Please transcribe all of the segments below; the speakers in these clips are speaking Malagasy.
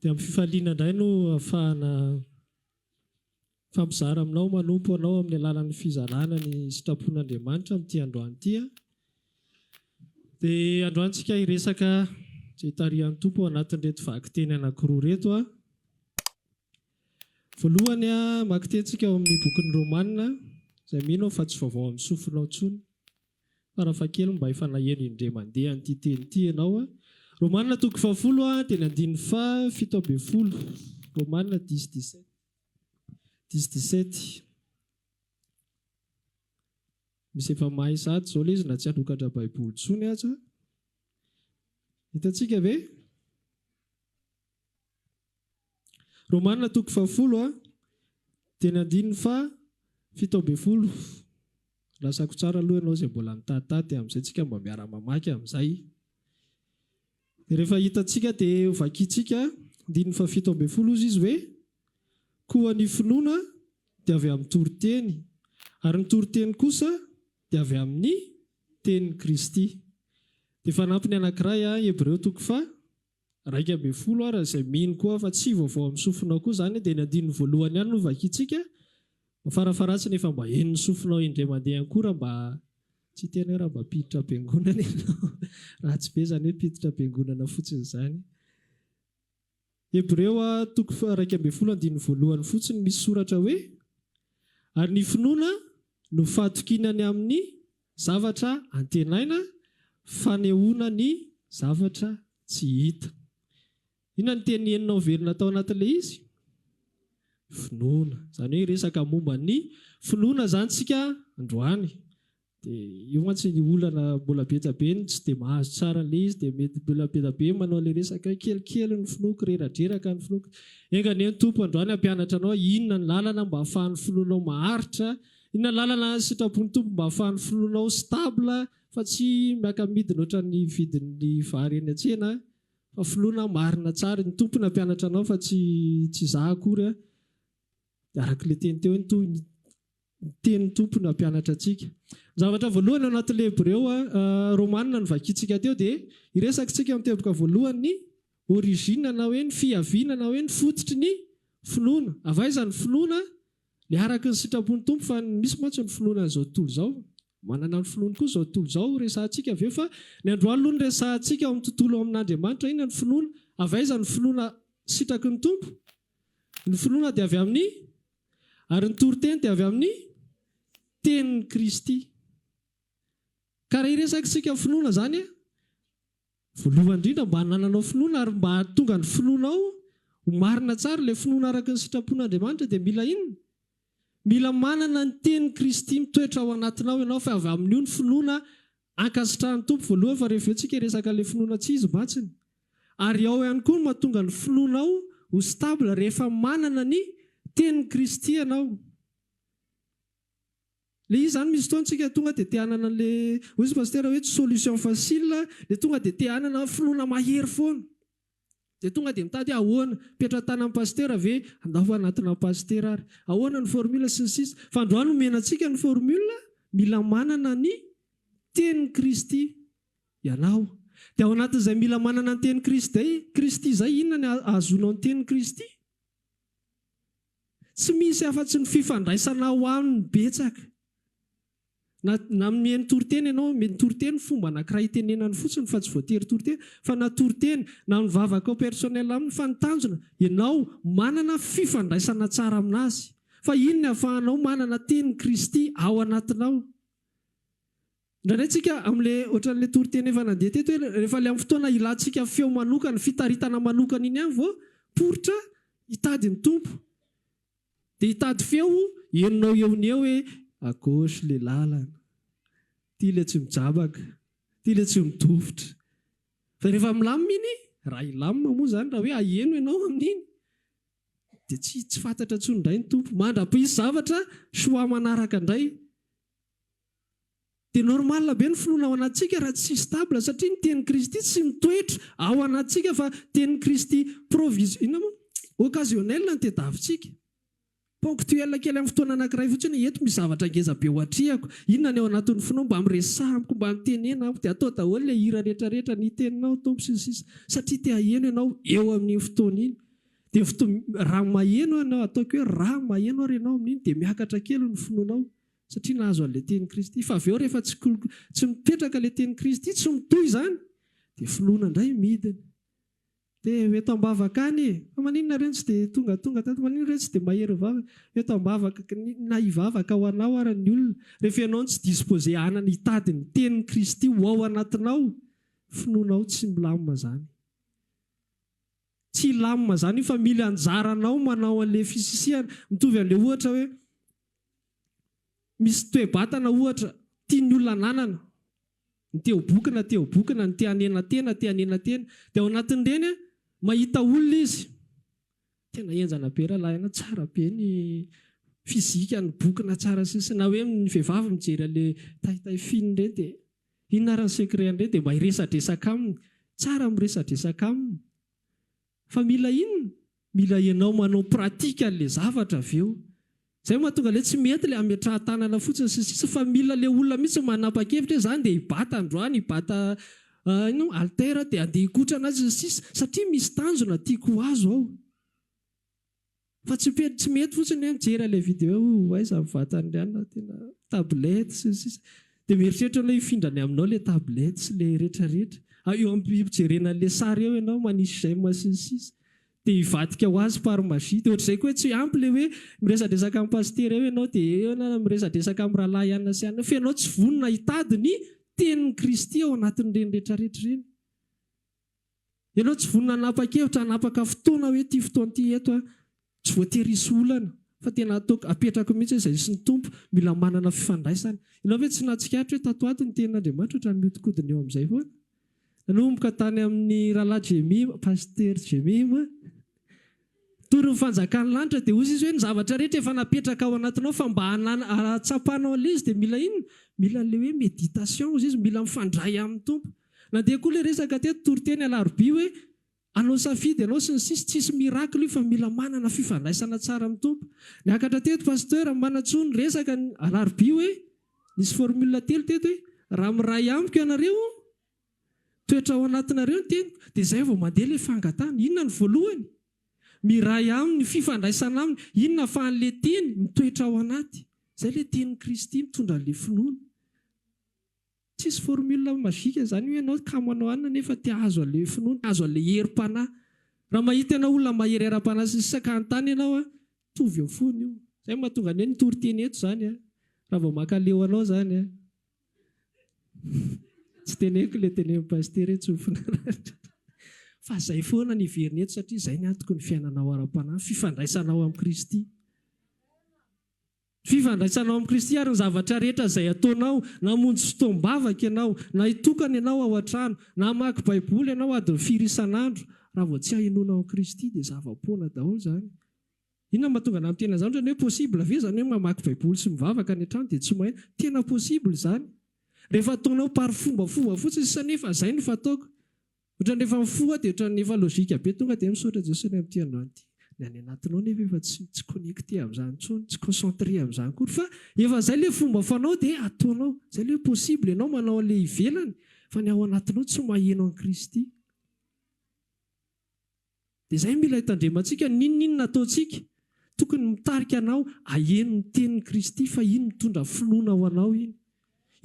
Dia amin'ny fifaliana indray no ahafahana mifampizara aminao, manompo anao amin'ny alalan'ny fizarana ny sitrapon'Andriamanitra amin'ity androany ity. Dia androany tsika hiresaka izay tarihan'ny Tompo ao anatin'ireto vakiteny anankiroa ireto. Voalohany, maki teny tsika ao amin'ny bokin'ny Romana, izay mino aho fa tsy vaovao amin'ny sofinao intsony. Farafahakeliny mba efa naheno indray mandeha an'ity teny ity ianao. Romanina toko fahafolo teny andininy faha fito ambin'ny folo. Romanina dix dix-sept. Dix dix-sept. Misy efa mahay sahady izao ilay izy na tsy hanokatra baiboly intsony aza. Hitantsika ve? Romana toko fahafolo a dia ny andininy faha fito ambin'ny folo. Lasako tsara aloha ianao izay mbola nitahitaha dia amin'izay tsika mba miara mamaky amin'izay. Dia rehefa hitantsika dia ho vakintsika andininy faha fito ambin'ny folo hozy izy hoe, koa ny finoana dia avy amin'ny toriteny, ary ny toriteny kosa dia avy amin'ny tenin'i Kristy. Dia fanampiny anankiray a, Hebreo toko faha. Iraika ambin'ny folo ary izay mino koa fa tsy vaovao amin'ny sofinao koa izany dia ny andininy voalohany ihany no vakintsika fa farafaharatsiny efa mba henon'ny sofinao indray mandeha ihany koa raha mba tsy hiteny hoe raha mba mpiditra am-piangonana ianao. Ratsy be izany hoe mpiditra am-piangonana fotsiny izany. Hebreo a, toko faha iraika ambin'ny folo andininy voalohany fotsiny misy soratra hoe, Ary ny finoana no fahatokiana ny amin'ny. Zavatra antenaina, fanehoana ny zavatra tsy hita. Inona no teny enina ho velona tao anatin'ilay izy? Finoana. Izany hoe hiresaka momba ny finoana izany isika androany. Dia io mantsy ny olana mbola betsabe ny tsy dia mahazo tsara an'ilay izy dia mety mbola betsabe manao ilay resaka hoe kelikely ny finoako, reradreraka ny finoako. Enga anie ny Tompo androany hampianatra anao inona ny lalana mba hahafahan'ny finoanao maharitra Inona lalana sitrapon'ny Tompo mba afahan'ny finoanao stable fa tsy miaka midina ohatran'ny vidin'ny vary eny an-tsena fa finoana marina tsara iny Tompo nampianatra anao fa tsy tsy za akory a dia araka ilay teny teo iny toa ny tenin'ny Tompo no hampianatra antsika ny zavatra voalohany ao anatin'ilay Hebreo Romana no vakintsika teo dia iresakintsika amin'ny teboka voalohany ny origine na hoe ny fihaviana na hoe ny fototry ny finoana avy aiza ny finoana Ny araka ny sitrapon'ny Tompo fa ny misy mantsy no finoana an'izao tontolo izao. Manana ny finoany koa izao tontolo izao resahantsika ve fa ny androany aloha no resahantsika ao amin'ny tontolo ao amin'Andriamanitra iny ny finoana. Avy aiza ny finoana sitraky ny Tompo? Ny finoana dia avy amin'ny ary ny toriteny dia avy amin'ny tenin'i Kristy. Ka raha hiresaka isika finoana izany, Voalohany indrindra mba hanananao finoana ary mba hahatonga ny finoanao ho marina tsara, ilay finoana araka ny sitrapon'Andriamanitra dia mila inona? Mila manana ny tenin'i Kristy mitoetra ao anatinao ianao fa avy amin'io ny finoana ankasitrahan'ny Tompo voalohany fa rehefa eo tsika hiresaka ilay finoana tsy izy mantsiny. Ary ao ihany koa ny mahatonga ny finoanao ho stable rehefa manana ny tenin'i Kristy ianao. Le izy zany misy fotoana tsika tonga dia te hanana anle hoy izy pasitera hoe tsy solution facile le tonga dia te hanana finoana mahery foana dia tonga dia mitady hoe ahoana petra tanan'ny pasitera ve andaho anatina pasitera ary ahoana ny formule sy ny sisa fa androany omena antsika ny formule mila manana ny tenin'i kristy ianao dia ao anatin'izay mila manana ny tenin'i kristy kristy zay inona ny ahazoanao ny tenin'i kristy Tsy misy afa-tsy ny fifandraisana ho an'ny betsaka. Na na mihaino toriteny ianao, mety toriteny fomba anankiray itenenany fotsiny fa tsy voatery toriteny, fa na toriteny na mivavakao personnel aminy fa ny tanjona ianao manana fifandraisana tsara amin'Azy. Fa iny ny ahafahanao manana tenin'i Kristy ao anatinao. Indraindray tsika amle ohatranle toriteny efa nandeha teto hoe rehefa le am fotoana ilantsika feo manokana, fitaritana manokana iny ihany vao poritra hitady ny Tompo. Dia hitady feo henonao eo ny eo hoe à gauche le lalana, ty le tsy mijabaka, ty le tsy midofotra. Fa rehefa milamina iny, raha hilamina moa izany, raha hoe aheno ianao amin'iny, dia tsy tsy fantatra intsony indray ny Tompo. Mandra-pihisy zavatra, choix manaraka indray. Dia normal be ny finoana ao anatintsika raha tsy stable satria ny tenin'i Kristy tsy mitoetra ao anatintsika fa tenin'i Kristy provis inona moa? occasionnel no tedavitsika. Ponctuel kely amin'ny fotoana anankiray fotsiny hoe eto misy zavatra ngeza be ho atrehako. Inona ny ao anatin'ny finoa mba miresaha amiko mba mitenena amiko dia atao daholo ilay hira rehetra rehetra ny teninao Tompo sy ny sisa satria te haheno ianao eo amin'iny fotoana iny dia fotoana raha maheno ianao ataoko hoe raha maheno ary ianao amin'iny dia miakatra kely ny finoanao Satria nahazo an'ilay tenin'i Kristy. Fa avy eo rehefa tsy tsy mipetraka ilay tenin'i Kristy, tsy mitohy izany, dia finoana indray midina. Dia ho eto am-bavaka any e! Fa maninona ireo tsy dia tongatonga tato? Maninona ireo tsy dia mahery vava? Ho eto am-bavaka, na hivavaka ho anao ary ny olona. Rehefa ianao no tsy disposé hanana hitady ny tenin'i Kristy ho ao anatinao, finoanao tsy milamina izany. Tsy lamina zany io fa mily anjaranao manao anle fisisihana. Mitovy anle ohatra hoe misy toe-batana ohatra tian'ny olona ananana, ny te ho boky na te ho boky na ny te hanena tena te hanena tena. Dia ao anatin'ireny mahita olona izy, tena henjana be ralahy an, tsara be ny fizika ny boky na tsara sisa na hoe ny vehivavy mijery anle tay tay fin ireny dia. Inona ary ny secret an'ireny dia mba hiresadresaka aminy tsara miresadresaka aminy fa mila inona? Mila ianao manao pratique an'ilay zavatra avy eo izay no mahatonga ilay tsy mety ilay hametrahan-tanana fotsiny sy ny sisa fa mila ilay olona mihitsy manapa-kevitra hoe za andeha hibata androany hibata inona moa halter dia andeha hikotrana azy sy ny sisa satria misy tanjona tiako ho azo ao Fa tsy pety tsy mety fotsiny hoe mijery an'ilay video hoe aiza ny vatan'i Riana tena tablette sy ny sisa dia mieritreritra anao hifindra any aminao ilay tablette sy ilay rehetra rehetra ary eo am-pijerena an'ilay sary eo ianao manisy j'aime sy ny sisa dia hivadika ho azy par magie dia ohatr'izay koa hoe tsy ampy ilay hoe miresadresaka amin'ny pasitera eo ianao dia eo ianao miresadresaka amin'ny rahalahy anona sy anona fa ianao tsy vonona hitady ny tenin'i Kristy ao anatin'ireny rehetra rehetra ireny Ianao tsy vonona hanapa-kevitra, hanapaka fotoana hoe ity fotoana ity eto aho. Tsy voatery hisy olana fa tena ataoko, apetrako mihitsy hoe izay hisy ny Tompo, mila manana fifandraisana. Ianao ve tsy nahatsikaritra hoe tato ho ato ny Tenin'Andriamanitra ohatran'ny mihodinkodina eo amin'izay foana? Nanomboka tany amin'ny Rahalahy Jemima, Pasitera Jemima. Torin'ny fanjakan'ny lanitra dia hozy izy hoe ny zavatra rehetra efa napetraka ao anatinao fa mba hahatsapanao an'ilay izy dia mila inona? Mila an'ilay hoe méditation hozy izy, mila mifandray amin'ny Tompo. Nandeha koa ilay resaka teto toriteny alarobia hoe hanao safidy ianao sy ny sisa, tsisy miracle io fa mila manana fifandraisana tsara amin'ny Tompo. Niakatra teto Pasteur Manantsoa niresaka ny alarobia hoe nisy formule telo teto hoe raha miray amiko ianareo, Toetra ao anatinareo ny teniko, dia izay vao mandeha ilay fangatahana. Inona no voalohany? Miray Aminy, ny fifandraisana Aminy. Inona ahafahan'ilay Teny mitoetra ao anaty? Izay ilay Tenin'i Kristy mitondra an'ilay finoana. Tsisy formule magique izany hoe ianao kamo hanao anona nefa te hahazo an'ilay finoana, te hahazo an'ilay herim-panahy. Raha mahita ianao olona mahery ara-panahy sy ny sisa ka hanontany ianao, mitovy eo foana io. Izay no mahatonga ny hoe ny toriteny eto izany, raha vao mankaleo anao izany. Tsy teneniko ilay tenenin'i Pasitera hoe tsofina rariny. Fa izay foana no heveriny eto satria izay ny antoko ny fiainanao ara-panahy, ny fifandraisanao amin'i Kristy. Ny fifandraisanao amin'i Kristy ary ny zavatra rehetra izay ataonao, na hamonjy fotoam-bavaka ianao, na hitokana ianao ao an-trano, na hamaky Baiboly ianao adiny firy isan'andro, raha vao tsy hahenoanao an'i Kristy dia zava-poana daholo izany. Inona no mahatonga anah miteny an'izany? Ohatrany hoe possible ve izany hoe mamaky baiboly sy mivavaka any an-trano dia tsy mahay? Tena possible izany rehefa ataonao par fombafomba fotsiny sy nefa izay no fataoko. Ohatrany rehefa mifoha aho dia ohatrany efa logique be tonga dia hoe misaotra Jeso any amin'ity andro ity. Ny any anatinao nefa efa tsy tsy connecter amin'izany intsony, tsy concentrer amin'izany akory fa efa izay ilay fomba fanao dia ataonao. Izay ilay hoe possible ianao manao an'ilay ivelany fa ny ao anatinao tsy maheno an'i Kristy. Dia izay mila hitandremantsika, n'inon'inona ataontsika, tokony mitarika anao aheno ny tenin'i Kristy, fa iny mitondra finoana ho anao iny.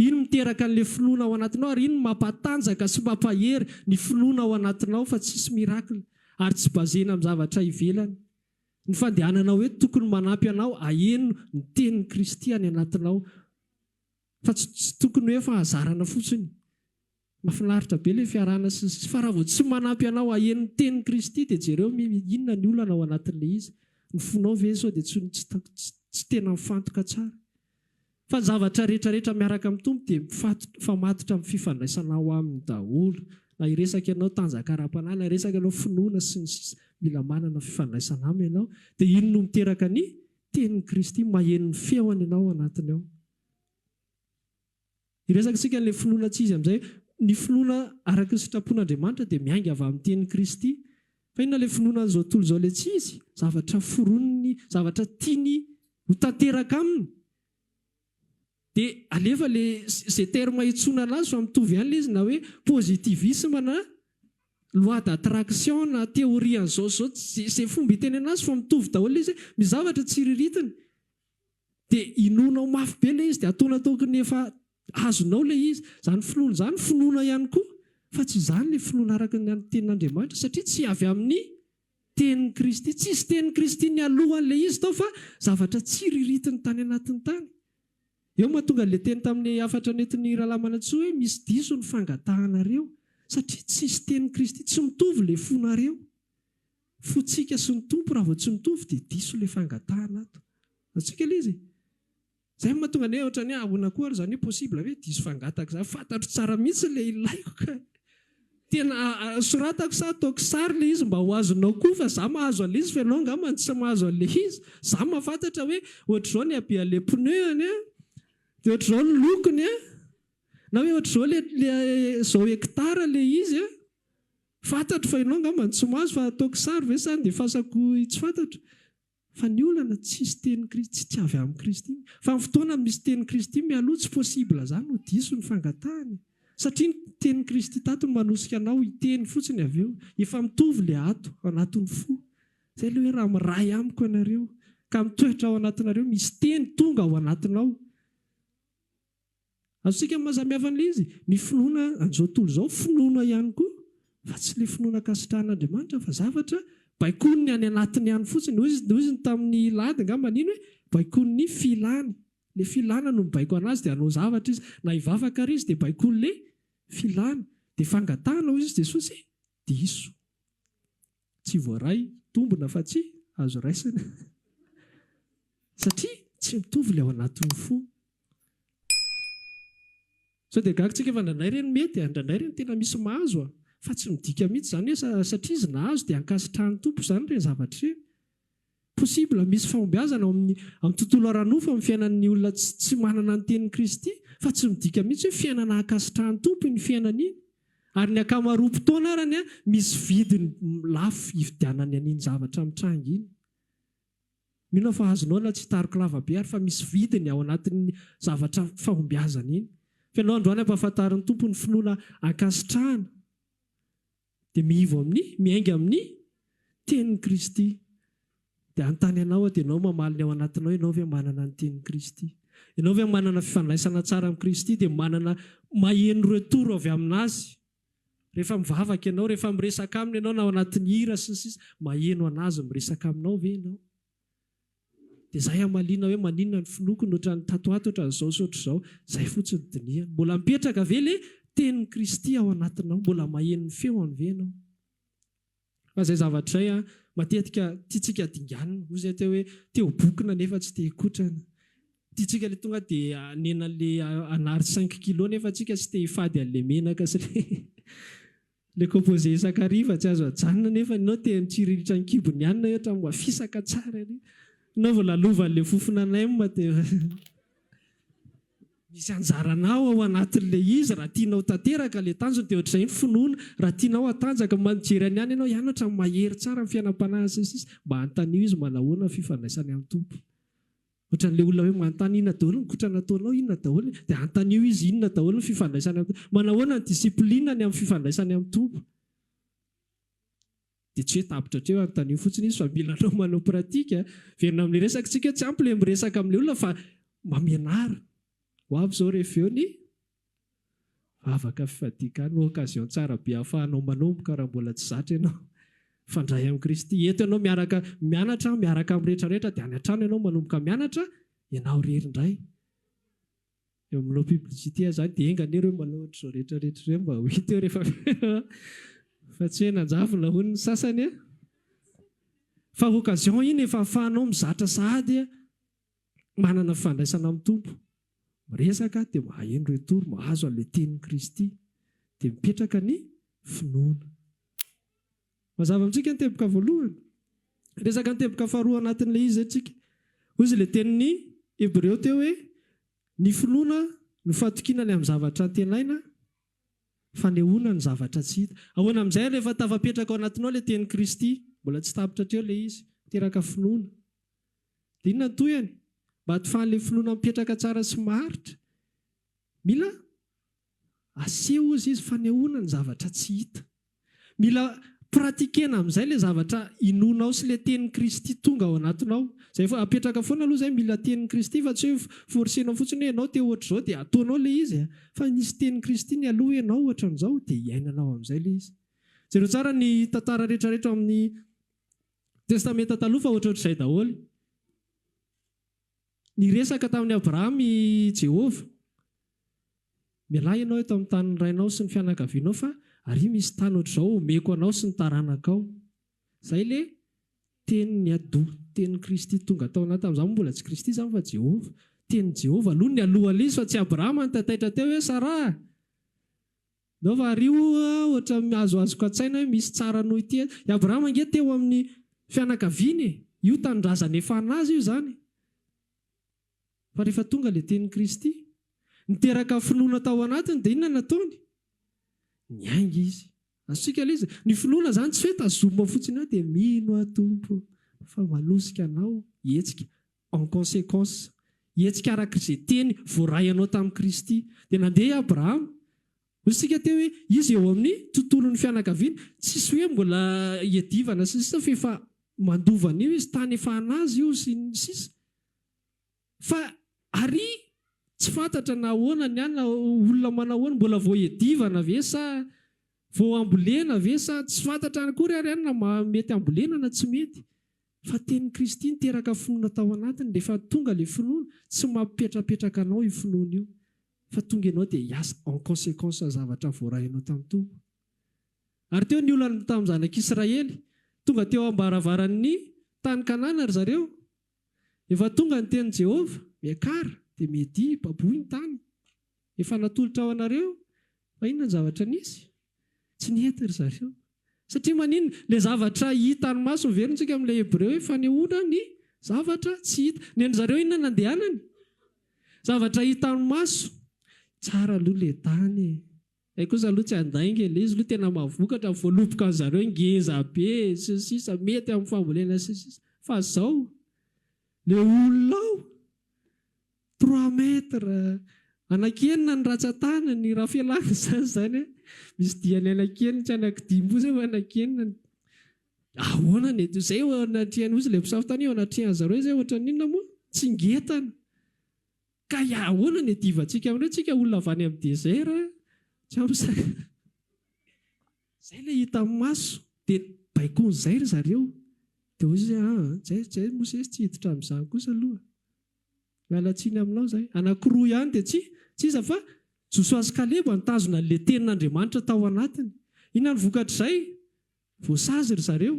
Iny miteraka an'ilay finoana ao anatinao, ary iny mampatanjaka sy mampahery ny finoana ao anatinao fa tsisy miracle ary tsy basena amin'ny zavatra ivelany. Ny fandehananao eto tokony manampy anao aheno ny tenin'i Kristy any anatinao, fa tsy tokony hoe fahazarana fotsiny. Mafinaritra be le fiarahana sy ny sisa fa raha vao tsy manampy anao aheno ny tenin'i Kristy dia jereo mi inona ny olana ao anatin'ilay izy, ny fonao ve sao dia tsy tsy tena mifantoka tsara? Fa ny zavatra rehetra rehetra miaraka amin'ny Tompo dia mifamatotra amin'ny fifandraisana ao aminy daholo, na hiresaka ianao tanjaka ara-panahy, na hiresaka ianao finoana sy ny sisa mila manana fifandraisana aminy ianao, dia iny no miteraka ny tenin'i Kristy, maheno ny feony ianao ao anatiny ao. Hiresaka isika an'ilay finoana tsy izy amin'izay. Ny finoana araka ny sitrapon'Andriamanitra dia miainga avy amin'ny tenin'i Kristy. Fa inona ilay finoana an'izao tontolo izao ilay tsy izy? Zavatra foroniny, zavatra tiany ho tanteraka aminy. Dia alefa ilay, izay terme hiantsoana anazy fa mitovy ihany ilay izy na hoe positivisme na loi d'attraction na théorie an'izao sy izao, izay fomba hiteny anazy fa mitovy daholo ilay izy hoe misy zavatra tsiriritina. Dia inoana ao mafy be ilay izy dia ataonao toky ny efa azonao ilay izy. Izany finoana izany finoana ihany koa fa tsy izany ilay finoana araka ny an'ny tenin'Andriamanitra satria tsy avy amin'ny tenin'i Kristy. Tsisy tenin'i Kristy nialoha an'ilay izy tao fa zavatra tsiriritiny tany anatiny tany. Eo mahatonga ilay teny tamin'ny hafatra nentin'ny Rahalahy Manantsoa hoe misy diso ny fangatahanareo satria tsisy tenin'i Kristy. Tsy mitovy ilay fonareo. Fotsika sy ny Tompo raha vao tsy mitovy dia diso ilay fangatahana ato. Azontsika ilay izy e. Izay no mahatonga anay ohatrany hoe ahoana koa ary izany hoe possible ve diso fangataka izany. Fantatro tsara mihitsy ilay ilaiko ka. Tena soratako sa ataoko sary ilay izy mba ho azonao koa fa za mahazo an'ilay izy fa ianao angamba no tsy mahazo an'ilay izy. Za mahafantatra hoe ohatr'izao ny habehan'ilay pneu-ny an, dia ohatr'izao ny lokony an, na hoe ohatr'izao ilay, izao hectare ilay izy an. Fantatro fa ianao angamba no tsy mahazo fa ataoko sary ve sa dia fasako i tsy fantatra? Fa ny olana tsisy teny Kristy tsy tsy avy amin'i Kristy iny fa ny fotoana misy teny Kristy mialoha tsy possible zany no diso ny fangatahana e! Satria ny teny Kristy tato no manosika anao hiteny fotsiny avy eo efa mitovy le ato ao anatin'ny fo zay le hoe raha miray amiko ianareo ka mitoetra ao anatinareo misy teny tonga ao anatinao Azontsika mahasamihafa an'ilay izy, ny finoana an'izao tontolo izao finoana ihany koa fa tsy ilay finoana ankasitrahan'Andriamanitra fa zavatra baikoin'ny any anatiny ihany fotsiny. Hoy izy, hoy izy tamin'i Lady angamba nino hoe baikoin'ny filany. Ilay filana no mibaiko an'azy dia hanao zavatra izy. Na hivavaka àry izy dia baikoin'ilay filany. Dia fangatahana hoy izy Jesosy e, diso. Tsy voaray tombina fa tsy azo raisina satria tsy mitovy ilay ao anatin'ny fo. Sao dia gaga tsika fa indraindray re no mety, indraindray re no tena misy mahazo fa tsy midika mihitsy izany hoe satria izy nahazo dia ankasitrahan'ny Tompo izany ireny zavatra ireny. Possible misy fahombiazana ao amin'ny amin'ny tontolo ara-nofo amin'ny fiainan'ny olona tsy tsy manana ny tenin'i Kristy fa tsy midika mihitsy hoe fiainana ankasitrahan'ny Tompo iny fiainana iny ary ny ankamaroam-potoana arany misy vidiny lafo ividianany an'iny zavatra mitranga iny mino aho fa azonao na tsy hitariko lava be ary fa misy vidiny ao anatin'ny zavatra fahombiazana iny fa ianao androany ampahafantarin'ny Tompo ny finoana ankasitrahana Dia miivo amin'ny, miainga amin'ny, Tenin'i Kristy. Dia hanontany anao aho, dia ianao mamaly ny ao anatinao, ianao ve manana ny Tenin'i Kristy? Ianao ve manana fifandraisana tsara amin'i Kristy dia manana, maheno retour avy amin'Azy? Rehefa mivavaka ianao, rehefa miresaka Aminy ianao na ao anatin'ny hira sy ny sisa, maheno an'Azy miresaka aminao ve ianao? Dia zay hamaliana hoe maninona ny finoako no ohatran'ny tato ato, ohatran'ny zao sy ohatr'izao. Zay fotsiny dinihana. Mbola mipetraka ve le tenin'i Kristy ao anatinao? Mbola maheno ny feony ve ianao? Fa zay zavatra izay an, matetika tiantsika dinganina. Hoy zay teo hoe, te ho bokona nefa tsy te hikotrana. Tiantsika le tonga dia hanena le hanary cinq kilos nefa tsika tsy te hifady an'le menaka sy le. Le composé isan-kariva tsy azo ajanona nefa enao te mitsiririitra ny kibony ihany nareo hatramin'ny mba fisaka tsara ery. Enao vao lalovan' le fofona nem te Misy anjaranao ao anatin'le izy raha tianao tanteraka le tanjona de ohatr'izay ny finoana raha tianao hatanjaka mba mijery any ihany enao hianatra ny mahery tsara ny fiainam-panahy sy ny sisa mba anontanio izy manahoana ny fifandraisany amin'ny Tompo Ohatran'ilay olona hoe manontany inona daholo ny kotrana ataonao, inona daholo, dia antanio izy inona daholo ny fifandraisany amin'ny Tompo. Manahoana ny discipline ny amin'ny fifandraisany amin'ny Tompo? Dia tsy hoe tapitra hatreo, antanio fotsiny izy fa mila anao manao pratique. Miverina amin'ny resakitsika, tsy ampy ilay miresaka amin'ilay olona fa mba mianara. Ho avy izao rehefa eo ny. Vavaka fifadiaka no occasion tsara be ahafahanao manomboka raha mbola tsy zatra ianao. Mifandray amin'i Kristy. Eto ianao miaraka mianatra miaraka amin'ny rehetra rehetra dia any an-trano ianao manomboka mianatra ianao irery indray. Eo amin'ny no publicité aza any dia enga anie ireo manao ohatr'izao rehetra rehetra ireo mba ho hita eo rehefa fa tsy hoe nanjavona hono ny sasany an! Fa occasion iny efa ahafahanao mizatra sahady an! manana fifandraisana amin'ny Tompo, miresaka dia maheno ireo tory, mahazo an'ilay tenin'i Kristy, dia mipetraka ny finoana. Mazava amintsika ny teboka voalohany. Resaka ny teboka faharoa anatin'ilay izy isika. Hoy izy ilay tenin'ny Hebreo teo hoe ny finoana no fatokiana ny amin'ny zavatra antenaina, fanehoana ny zavatra tsy hita. Ahoana amin'izay ary efa tafapetraka ao anatinao ilay tenin'i Kristy, mbola tsy tapitra hatreo ilay izy, miteraka finoana. Inona ny tohiny? Mba tsy faly finoana mipetraka tsara sy maharitra. Mila aseho hozy izy fanehoana ny zavatra tsy hita. Mila pratiquena amin'izay ilay zavatra inoanao sy ilay tenin'i Kristy tonga ao anatinao. Izay efa apetraka foana aloha izay mila tenin'i Kristy fa tsy hoe forcenao fotsiny hoe ianao te ho ohatr'izao dia ataonao ilay izy fa nisy tenin'i Kristy nialoha hoe ianao ohatran'izao dia iainanao amin'izay ilay izy. Jereo tsara ny tantara rehetra rehetra ao amin'ny Testamenta Taloha fa ohatrohatr'izay daholo. Niresaka tamin'i Abrahama i Jehovah, Mialà ianao eto amin'ny tanin'ny rainao sy ny fianakavianao, fa àry misy tany hoatr'izao homeko anao sy ny taranakao. Izay ilay Teny niadoa, Tenin'i Kristy tonga tao anatiny. Tamin'izany moa mbola tsy Kristy izany fa Jehovah. Tenin'i Jehovah aloha, nialohan'Izy, fa tsy Abrahama nitataitra teo hoe, Saraha! Ndao variho oa ohatran'ny azoazoko an-tsaina hoe misy tsara noho ity e! I Abrahama ange teo amin'ny fianakaviany e! Io tanindrazana efa an'azy io izany e! Fa rehefa tonga ilay tenin'i Kristy, niteraka finoana tao anatiny dia inona no nataony? Niainga izy. Azontsika ilay izy, ny finoana izany tsy hoe tazomina fotsiny eo dia mino aho Tompo fa manosika Anao hihetsika. En conséquence, hetsika araka izay teny voaray anao tamin'i Kristy. Dia nandeha i Abrahama. Hoy isika teo hoe izy eo amin'ny tontolon'ny fianakaviana. Tsisy hoe mbola iadivana sy ny sisa f'efa mandova an'io izy, tany efa an'azy io sy ny sisa. Fa ary tsy fantatra na ahoana ny any, olona manao ahoana, mbola vao iadivana ve sa vao ambolena ve sa tsy fantatra akory ary any na mety ambolena na tsy mety. Fa tenin'i Kristy niteraka finoana tao anatiny, rehefa tonga ilay finoana, tsy mampipetrapetraka anao io finoana io, fa tonga ianao dia hiasa en consequence ny zavatra voarainao tamin'ny Tompo. Ary teo ny olana tamin'ny zanak'Israely, tonga teo am-baravaran'ny tany Kanana ry zareo, efa tonga ny tenin'i Jehovah, miakara, dia miadia, baboy ny tany. Efa natolotra ho anareo fa inona ny zavatra nisy? Tsy nety ry zareo. Satria maninona? Ilay zavatra hitan'ny maso no heverintsika amin'ilay Hebreo hoe fanehoana ny zavatra tsy hita. Ny an'ny zareo inona no nandehanany? Zavatra hitan'ny maso. Tsara aloha ilay tany e! Ilay kosa aloha tsy handainga e! Ilay izy aloha tena mahavokatra, voaloboka an'i zareo ngeza be sy ny sisa, mety amin'ny fambolena sy ny sisa. Fa izao? Ilay olona ao? Trois mètres! Anaky enina ny ratsan-tanany, raha fialana izany izany an! Misy diany anaky enina tsy anaky dimy koa izay vao anaky enina an! Ahoana ny atao? Izay eo anatrehan, hoy izy ilay mpisava tany, eo anatrehan-dry zareo izay ohatran'ny inona moa? Tsingetana! Ka ahoana ny iadivantsika amin'ireo? Tsika olona avy any amin'ny desert an! Tsy ampy sakafo. Izay ilay hitan'ny maso. Dia baikoin'izay ry zareo. Dia hoy izy hoe, An! Izay, izay Mosesy tsy hiditra amin'izany kosa aloha. Miala tsiny aminao izahay. Anankiroa ihany dia tsy tsy iza fa Josoa sy Kaleba nitazona an'ilay Tenin'Andriamanitra tao anatiny. Inona no vokatr'izay? Voasazy ry zareo.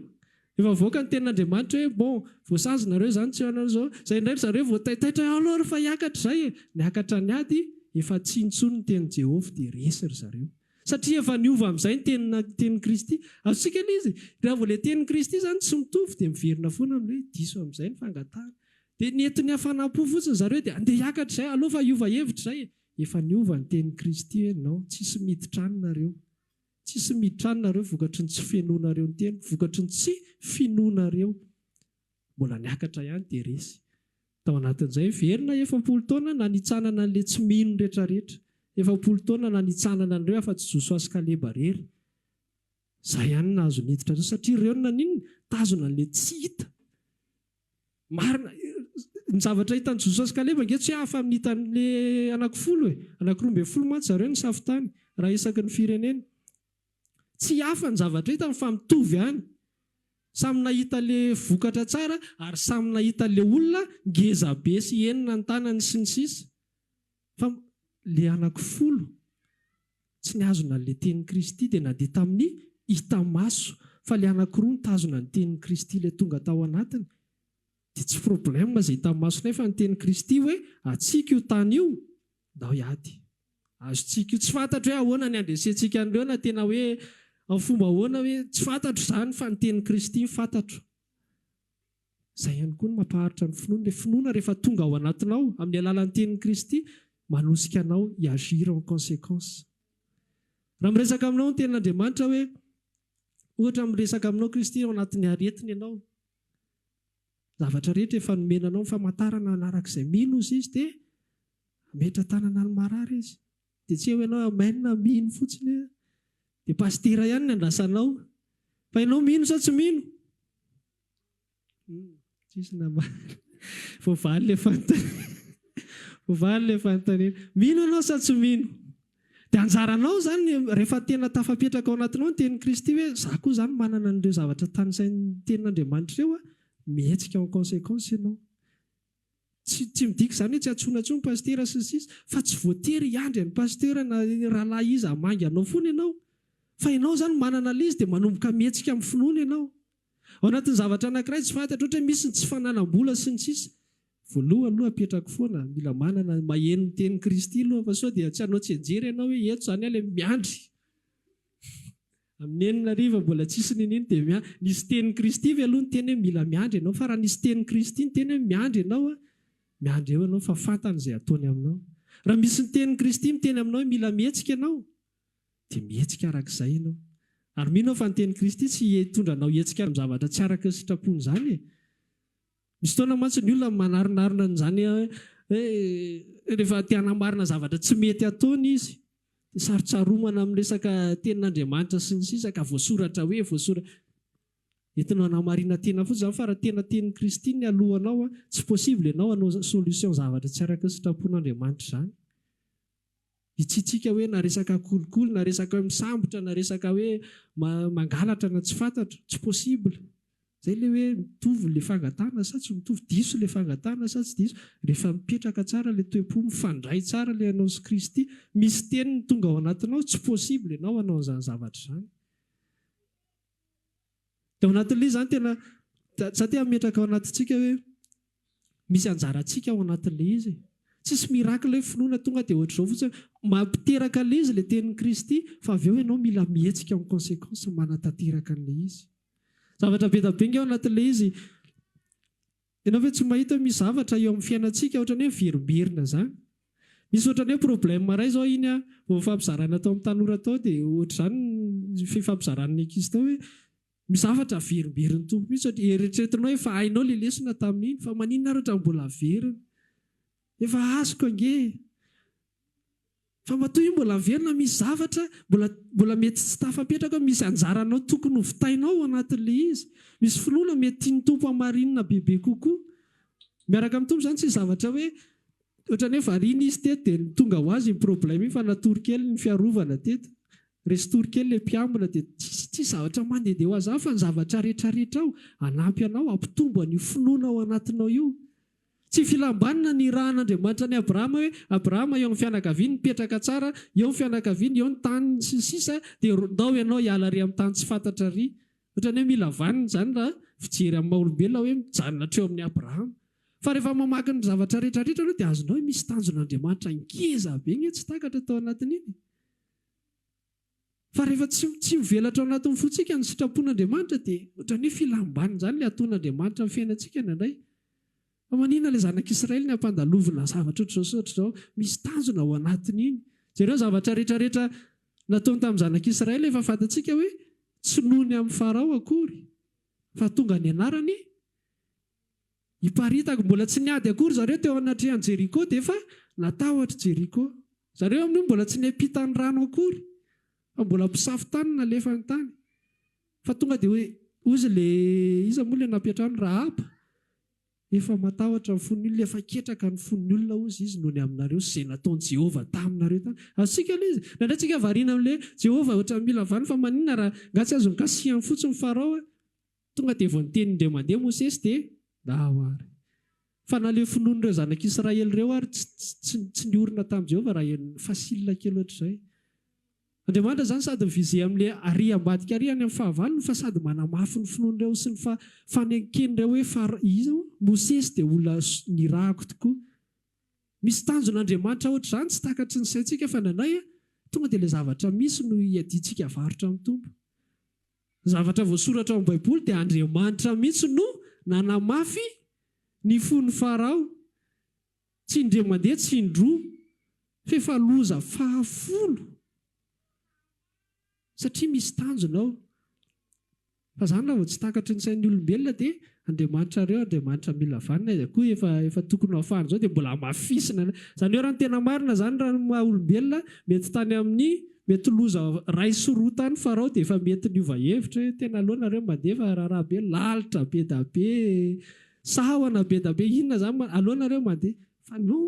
Efa avoaka ny Tenin'Andriamanitra hoe, bon, voasazy nareo izany, tsy hanao izao. Izay indray ry zareo voataitaitra hoe, aleo ary fa hiakatra izay e! Niakatra ny ady, efa tsy intsony ny tenin'i Jehovah dia resy ry zareo. Satria efa niova amin'izay ny Tenina, Tenin'i Kristy. Azontsika ilay izy. Raha vao ilay Tenin'i Kristy izany tsy mitovy dia miverina foana amin'ny hoe diso amin'izay ny fangatahana. Dia ny eto ny hafanam-po fotsiny zareo dia andeha hiakatra izay, aleo fa hiova hevitra izay e! Efa niova ny tenin'i Kristy hoe non, tsisy miditra any nareo. Tsisy miditra any nareo vokatry ny tsy fihenoanareo ny teny, vokatry ny tsy finoanareo. Mbola niakatra ihany dia resy. Tao anatin'izay, velona efapolo taona nanitsanana an'ilay tsy mino retraretra. Efapolo taona nanitsanana an'ireo afa-tsy Josoa sy Kaleba irery. Izay ihany no nahazo niditra tao satria ireo no naninona? Nitazona an'ilay tsy hita. Marina, ny zavatra hitan'i Josoa sy Kaleba ange tsy hafa amin'ny hitan'ny anakifolo e! Anakiroa ambin'ny folo mantsy zareo no safo-tany, raha isaky ny firenena. Tsy hafa ny zavatra hitany fa mitovy ihany. Samy nahita ilay vokatra tsara ary samy nahita ilay olona ngezabe sy henona ny tanany sy ny sisa. Fa le anaky folo tsy nihazona anle tenin'i Kristy dia na dia tamin'ny hita maso fa le anaky roa nitazona ny tenin'i Kristy le tonga tao anatiny dia tsy problème izay hita maso nefa ny tenin'i Kristy hoe atsika io tany io ndao hiady azotsika io tsy fantatro hoe ahoana ny andresentsika an'ireo na tena hoe am fomba ahoana hoe tsy fantatro izany fa ny tenin'i Kristy no fantatro. Izay ihany koa no mampaharitra ny finoana. Ilay finoana rehefa tonga ao anatinao amin'ny alalan'ny tenin'i Kristy, manosika anao hi-agir en consequence. Raha miresaka aminao ny tenin'Andriamanitra hoe, ohatra miresaka aminao Kristy ao anatin'ny aretiny ianao, zavatra rehetra efa nomena anao ny famantarana hanaraka izay mino ozy izy dia hametra tanana ny marary izy. Dia tsy eo ianao amen mino fotsiny dia pasitera ihany ny andrasanao. Fa ianao mino sa tsy mino? Tsisy namaly. Voavaly ilay fanontaniana. Voavaly ilay fanontaniana. Mino ianao sa tsy mino? Dia anjaranao izany, rehefa tena tafapetraka ao anatinao ny tenin'i Kristy hoe, izaho koa izany manana an'ireo zavatra tanisain'ny Tenin'Andriamanitra ireo an, mihetsika en conséquence ianao. Tsy tsy midika izany hoe tsy antsoina intsony pasitera sy ny sisa, fa tsy voatery hiandry an'i pasitera na rahalahy iza hamangy anao foana ianao. Fa ianao izany manana ilay izy dia manomboka mihetsika amin'ny finoana ianao. Ao anatin'ny zavatra anankiray tsy fantatro, ohatra hoe misy ny tsy fanalam-bola sy ny sisa, voalohany aloha apetrako foana, mila manana, maheno ny tenin'i Kristy aloha fa sao dia tsy hanao tsianjery ianao hoe eto izany aho ilay miandry amin'ny enina hariva mbola tsisy niniana dia miandry, nisy tenin'i Kristy ve aloha niteny hoe mila miandry ianao, fa raha nisy tenin'i Kristy niteny hoe miandry ianao an, miandry eo ianao fa fantany izay hataony aminao. Raha misy ny tenin'i Kristy miteny aminao hoe mila mihetsika ianao, dia mihetsika araka izay ianao. Ary mino aho fa ny tenin'i Kristy tsy hitondra anao hihetsika amin'ny zavatra tsy araka ny sitrapony izany e! Misy fotoana mantsy ny olona manarinarina an'izany hoe rehefa te hanamarina zavatra tsy mety ataony izy, dia sarotsaromana amin'ny resaka tenin'Andriamanitra sy ny sisa ka voasoratra hoe voasoratra. Entinao hanamarina tena fotsiny izany fa raha tena tenin'i Kristy ny haloanao, tsy possible ianao hanao solution zavatra tsy araka ny sitrapon'Andriamanitra izany. Hitsitsika hoe na resaka kolikoly na resaka hoe misambotra na resaka hoe mangalatra na tsy fantatro, tsy possible. Zay le hoe mitovy le fangatahana sa tsy mitovy, diso le fangatahana sa tsy diso, rehefa mipetraka tsara le toe-po, mifandray tsara le anao sy Kristy, misy teniny tonga ao anatinao, tsy possible enao hanao an'izany zavatra izany. Dia ao anatin'ilay izy izany tena, za te hametraka ao anatintsika hoe misy anjarantsika ao anatin'ilay izy e. Tsisy miracle hoe finoana tonga dia ohatr'izao fotsiny hoe mampiteraka an'ilay izy ilay tenin'i Kristy fa avy eo ianao mila mihetsika en conséquence manatanteraka an'ilay izy. Zavatra be dia be ange ao anatin'ilay izy. Ianao ve tsy mahita hoe misy zavatra eo amin'ny fiainantsika ohatran'ny hoe miverimberina izany? Misy ohatran'ny hoe problème iray izao iny an, vao nifampizarana tao amin'ny tanora tao dia ohatr'izany ny fifampizaran'ny ankizy tao hoe misy zavatra averimberin'ny Tompo mihitsy satria eritreretinao hoe efa hainao ilay lesona tamin'iny fa maninona ary ohatran'ny mbola averiny? Efa azoko ange e! Fa matoa io mbola velona misy zavatra mbola mbola mety tsy tafapetraka ao misy anjaranao tokony ho vitainao ao anatin'ilay izy. Misy finoana mety tian'ny Tompo hamarinina bebe kokoa. Miaraka amin'ny Tompo izany tsy zavatra hoe ohatran'ny hoe variana izy teto dia tonga ho azy iny problème iny fa natory kely ny fiarovana teto. Resin-tory kely ilay mpiambina dia tsisy tsisy zavatra mandehandeha ho azy hafa ny zavatra rehetra rehetra ao hanampy anao hampitombo an'io finoana ao anatinao io. Tsy filam-banona ny nirahan'Andriamanitra an'i Abrahama hoe, Abrahama, eo amin'ny fianakaviany, mipetraka tsara, eo ny fianakaviany, eo ny taniny, sy ny sisa Dia ndao ianao hiala ary amin'ny tany tsy fantatra ary. Ohatran'ny hoe mila vanona izany raha fijery amin'ny maha olombelona hoe mijanona hatreo amin'i Abrahama. Fa rehefa mamaky ny zavatra rehetra rehetra aloha dia azonao hoe misy tanjon'Andriamanitra ngeza be nge tsy takatra tao anatin'iny e. Fa rehefa tsy tsy mivelatra ao anatin'ny fontsika ny sitrapon'Andriamanitra dia ohatran'ny hoe filam-banin'izany ilay ataon'Andriamanitra amin'ny fiainantsika indraindray. Fa maninona ilay zanak'Israely ny hampandalovina zavatra ohatr'izao sy ohatr'izao? Misy tanjona ao anatin'iny. Jereo ny zavatra rehetra rehetra nataony tamin'ny zanak'Israely efa fantatsika hoe tsy noho ny an'i Farao akory fa tonga ny anarany Iparitaka, mbola tsy niady akory zareo teo anatrehan'i Jeriko dia efa natahotr'i Jeriko. Zareo amin'io mbola tsy niampita ny rano akory fa mbola mpisafo tany no nalefany tany. Fa tonga dia hoy izy ilay, iza moa ilay nampiantrano? Rahaba. Efa matahotra ny fon'ny olona, efa ketraka ny fon'ny olona hozy izy noho ny aminareo sy izay nataon'i Jehovah taminareo tany. Azontsika aloha izy. Indraindray tsika variana amin'ilay hoe, Jehovah ohatran'ny mila vaniny fa maninona raha, nga tsy azony kasihan fotsiny Farao e. Tonga dia vao niteny indray mandeha Mosesy dia nahaho àry. Fa na ilay finoan'ireo zanak'i Israely ireo àry tsy tsy niorina tamin'i Jehovah raha henony. Facile kely hoatr'izay. Andriamanitra izany sady mi-viser amin'ilay àry ambadika àry any amin'ny fahavalony fa sady manamafy ny finoan'ireo sy ny faneken'ireo hoe fa iza moa? Mosesy dia olona nirahako tokoa. Misy tanjona Andriamanitra hoatr'izany tsy takatry ny saintsika fa ny anay tonga dia ilay zavatra misy no iadiantsika avarotra amin'ny Tompo. Ny zavatra voasoratra ao amin'ny Baiboly dia Andriamanitra mihitsy no nanamafy ny fon'i Farao, tsy indray mandeha, tsy indroa, f'efa loza fahafolo, satria misy tanjona ao. Fa izany raha vao tsy takatry ny sain'ny olombelona dia. Andriamanitra reo Andriamanitra mila vanona izy akoho efa efa tokony ho afahany zao de mbola amafisina ny zany oe raha ny tena marina zany raha ny maha olombelona mety tany amin'ny mety loza ray sy roa tany Farao de efa mety niova hevitra hoe tena aleo nareo mandeha fa raharaha be lalitra be da be sahona be da be inona zany ma aleo nareo mandeha fa non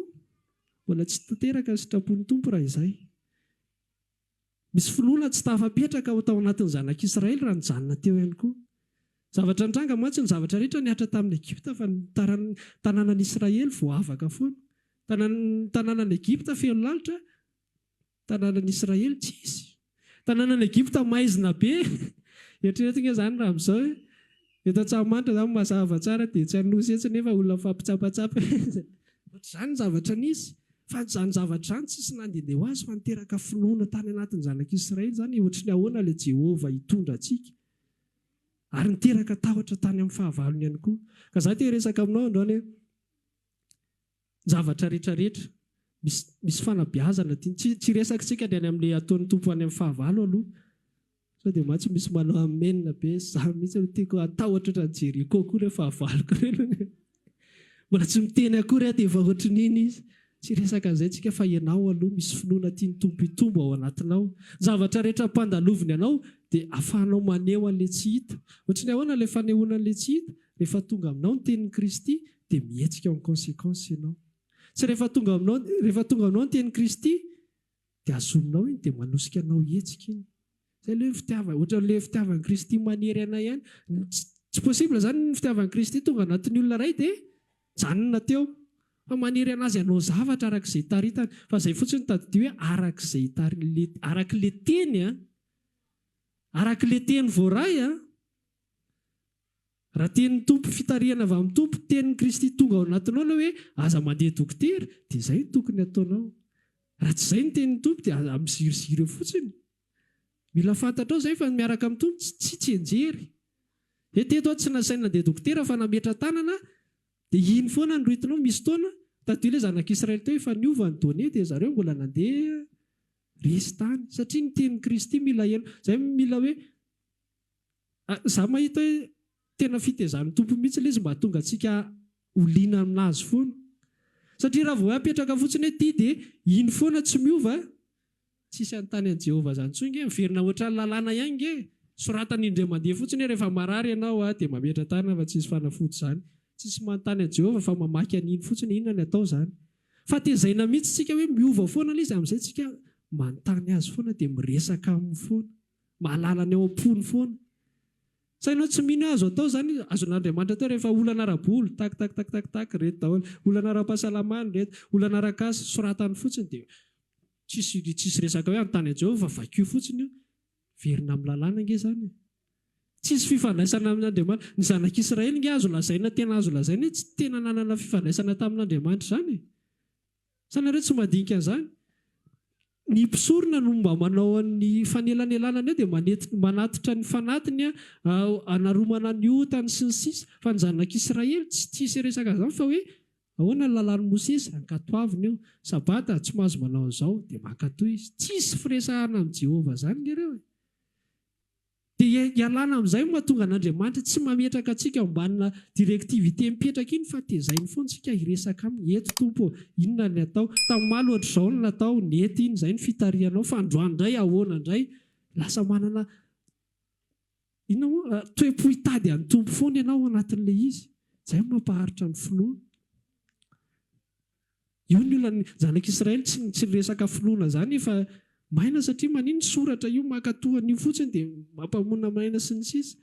mbola tsy tanteraka ny sitrapon'ny Tompo raha izay. Misy finoana tsy tafapetraka ao tao anatin'ny zanak'Israely raha nijanona teo ihany koa. Zavatra nitranga mantsy ny zavatra rehetra nihatra tamin'i Egypta fa ny tanànan'Israely voavaka foana. Ny tanànan'i Egypta feno lalitra, ny tanànan'Israely tsisy. Tanànan'i Egypta maizina be. Eritrereto ange izany raha amin'izao hoe Eto Antsahamanitra izany mazava tsara dia etsy Anosy etsy nefa olona mifampitsapatsapa etsy. Ohatr'izany ny zavatra nisy. Fa an'izany zavatra izany tsisy nandehandeha ho azy fa niteraka finoana tany anatin'ny zanak'Israely izany ohatry ny ahoana ilay Jehovah hitondra antsika. Ary niteraka tahotra tany amin'ny fahavalony ihany koa. Ka izaho te hiresaka aminao androany hoe zavatra rehetra rehetra misy misy fanabeazana ty tsy tsy resakitsika ny any amle ataony tompo any am fahavalo aloha sao de mantsy misy manao amen be za mitsy no tiako atahotra otrany jeriko ko le fahavalo ko reny anie mbola tsy miteny akory aho de efa otrininy izy tsy resaka anzay tsika fa enao aloha misy finoana tiany tompo hitombo ao anatinao zavatra rehetra ampandaloviny anao de afahanao maneho anle tsy hita otrin'ny ahoana le fanehoana anle tsy hita rehefa tonga aminao ny teniny kristy dia mihetsika en conséquence ianao. Tsy rehefa tonga aminao, rehefa tonga aminao ny tenin'i Kristy dia azonao iny dia manosika anao hihetsika iny. Izay aloha ny fitiavana, ohatran'ilay fitiavan'i Kristy manery anay ihany. Tsy possible izany ny fitiavan'i Kristy tonga anatin'ny olona iray dia mijanona teo. Fa manery an'azy hanao zavatra araka izay itaritany. Fa izay fotsiny tadidio hoe araka izay itaritany, araka ilay teny an, araka ilay teny voaray an. Raha tenin'ny Tompo fitarihana avy amin'ny Tompo, tenin'i Kristy tonga ao anatinao ilay hoe aza mandeha dokotera dia izay no tokony hataonao. Raha tsy izay ny tenin'ny Tompo dia aza miziriziry eo fotsiny. Mila fantatrao izay fa ny miaraka amin'ny Tompo tsy tsy tsianjery. Hoe teto aho tsy nasainy nandeha dokotera fa nametra-tanana dia iny foana no ritinao misy taona tadio ilay zanak'Israely teo efa niova ny données dia zareo mbola nandeha resy tany satria ny tenin'i Kristy mila heno. Izay mila hoe Za mahita hoe tena fitezan'ny Tompo mihitsy ilay izy mba hahatonga antsika ho liana amin'Azy foana. Satria raha vao hoe apetraka fotsiny hoe ity dia iny foana tsy miova, tsisy hanontany an'i Jehovah izany intsony nge, miverina ohatran'ny lalàna ihany nge, soratany indray mandeha fotsiny hoe rehefa marary ianao dia mametra-tanana fa tsisy fanafody izany. Tsisy manontany an'i Jehovah fa mamaky an'iny fotsiny, inona ny atao izany. Fa tezaina mihitsy isika hoe miova foana ilay izy, amin'izay isika manontany Azy foana dia miresaka aminy foana. Mahalala ny ao am-pony foana. Sao ianao tsy mino hoe azo atao izany? Azon'Andriamanitra atao rehefa olana ara-bola, tac tac tac tac tac, reto daholo. Olana ara-pahasalamana, reto. Olana ara-kasa, soratany fotsiny dia tsisy tsisy resaka hoe anontany an'i Jehovah fa vakio fotsiny io. Miverina amin'ny lalàna ange izany e. Tsisy fifandraisana amin'Andriamanitra. Ny zanak'Israely ange azo lazaina tena azo lazaina hoe tsy tena nanana fifandraisana tamin'Andriamanitra izany e. Sa nareo tsy mandinika an'izany? Ny mpisorona no mba manao ny fanelanelanana eo dia manatitra ny fanatiny hanaromana ny otany sy ny sisa Fa ny zanak'Israely tsy tia sy resaka an'izany fa hoe ahoana ny lalàn'i Mosesy? Ankatoavina eo. Sabata, tsy mahazo manao an'izao. Dia mankatoa izy. Tsisy firesahana amin'i Jehovah izany nge reo e. Dia ialana amin'izay no mahatonga an'Andriamanitra tsy mametraka antsika ao ambanina directivité mipetraka iny fa tezainy foana tsika hiresaka aminy, eto Tompo ô, inona ny atao? Tam'maly ohatr'izao no natao, nety iny, izay no fitarihanao, fa androany indray ahoana indray? Lasa manana inona moa? toe-po hitady an'i Tompo foana ianao ao anatin'ilay izy. Izay no mampaharitra ny finoana. Io ny olan'ny janak' Israely tsy ny tsy resaka finoana zany efa maina satria maninn ny soratra io maka toa an'io fotsiny de mampamona maina sy ny sisa